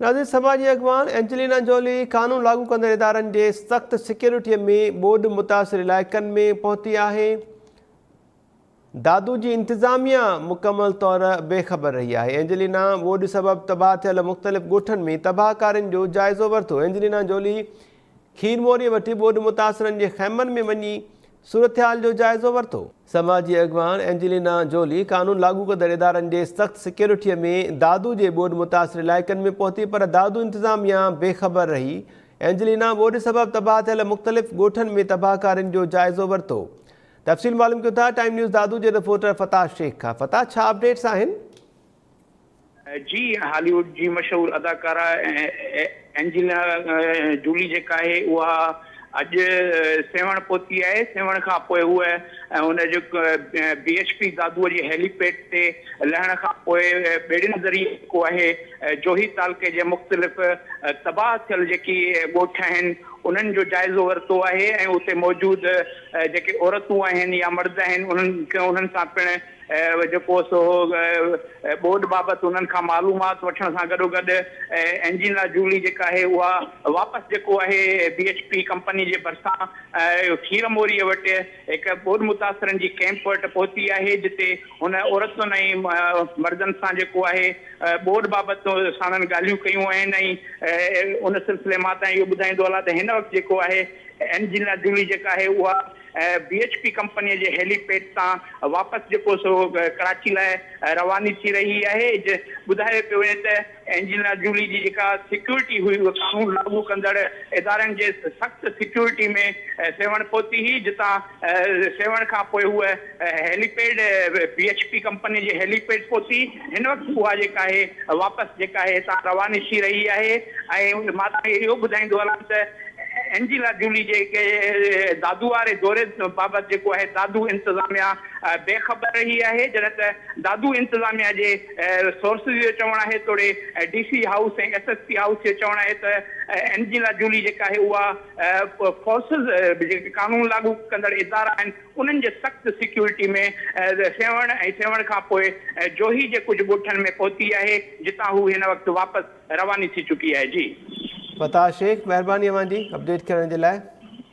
نازڪ سڀاء جي اڳواڻ اينجلينا جولي قانون لاڳو ڪندڙ ادارن جي سخت سيڪيورٽيء ۾ ٻوڏ متاثر علائقن ۾ پهتي آهي. دادو جي انتظاميا مڪمل طور بي خبر رهي آهي. اينجلينا ٻوڏ سبب تباهه ٿيل مختلف ڳوٺن ۾ تباهه ڪارين جو جائزو ورتو. اينجلينا جولي کير موريء وٽ ٻوڏ متاثرن جي خيمن ۾ وڃي صورتحال جو جائزو ورتو. سماجي اڳواڻ اينجلينا جولي قانون لاڳو ڪندڙ ادارن جي سخت سيڪيورٽيء ۾ دادو جي ٻوڏ متاثر علائقن ۾ پهتي پر دادو انتظاميا بي خبر رهي. اينجلينا ٻوڏ سبب تباهه ٿيل مختلف ڳوٺن ۾ تباهڪارين جو جائزو ورتو. تفصيل معلوم ڪيون ٿا ٽائيم نيوز دادو جي رپورٽر فتاح شيخ کان فتاح ڇا اپڊيٽس آهن؟ جي هالي ووڊ جي مشهور اداڪارا اينجيلا جولي جيڪا آهي اها اڄ سيوهڻ پهتي آهي سيوهڻ کان پوء هوء ان جو بي ايڇ پي دادوء جي هيلي پيڊ تي لهڻ کان پوء ٻيڙين ذريعي جيڪو آهي جوهي تعلقي جي مختلف تباهه ٿيل جيڪي ڳوٺ آهن انهن جو جائزو ورتو آهي ۽ اتي موجود جيڪي عورتون آهن يا مرد آهن انهن سان پڻ جيڪو سو ٻوڏ بابت انهن کان معلومات وٺڻ سان گڏوگڏ اينجينا جولي جيڪا آهي اها واپس جيڪو آهي بي ايڇ پي ڪمپني جي ڀرسان کير موريء وٽ هڪ ٻوڏ متاثرن جي ڪيمپ وٽ پهتي آهي جتي هن عورتن ۽ مردن سان جيڪو آهي ٻوڏ بابت ساڻن ڳالهيون ڪيون آهن ۽ ان سلسلي مان تان اهو ٻڌائيندو هلان ته هن وقت جيڪو آهي اينجينا جولي جيڪا آهي اها بي ايڇ پي ڪمپنيء جي هيلي پيڊ تان واپس جيڪو سو ڪراچي لاء رواني ٿي رهي آهي. ٻڌايو پيو وڃي ته اينجلينا جولي جي جيڪا سيڪيورٽي هئي اها قانون لاڳو ڪندڙ ادارن جي سخت سيڪيورٽي ۾ سيوهڻ پهتي هئي جتان سيوهڻ کان پوء هوء helipad B H P ڪمپنيء جي هيلي پيڊ پهتي. هن وقت اها جيڪا آهي واپس جيڪا آهي هتان رواني ٿي رهي آهي ۽ مان توهان کي اهو ٻڌائيندو هلان ته اينجيلا جولي جي دادو واري دوري بابت جيڪو آهي دادو انتظاميا بي خبر رهي آهي جڏهن ته دادو انتظاميا جي سورسز جو چوڻ آهي توڙي D C house ۽ S S P house جو چوڻ آهي ته اينجيلا جولي جيڪا آهي اها فورسز جيڪي قانون لاڳو ڪندڙ ادارا آهن انهن جي سخت سيڪيورٽي ۾ سيوهڻ ۽ سيوهڻ کانپوء جوهي جي ڪجهه ڳوٺن ۾ پهتي آهي جتان هو هن وقت واپس رواني ٿي چڪي آهي جي. فتاح شيخ مهرباني اوهان جي اپڊيٽ ڪرڻ جي لاء.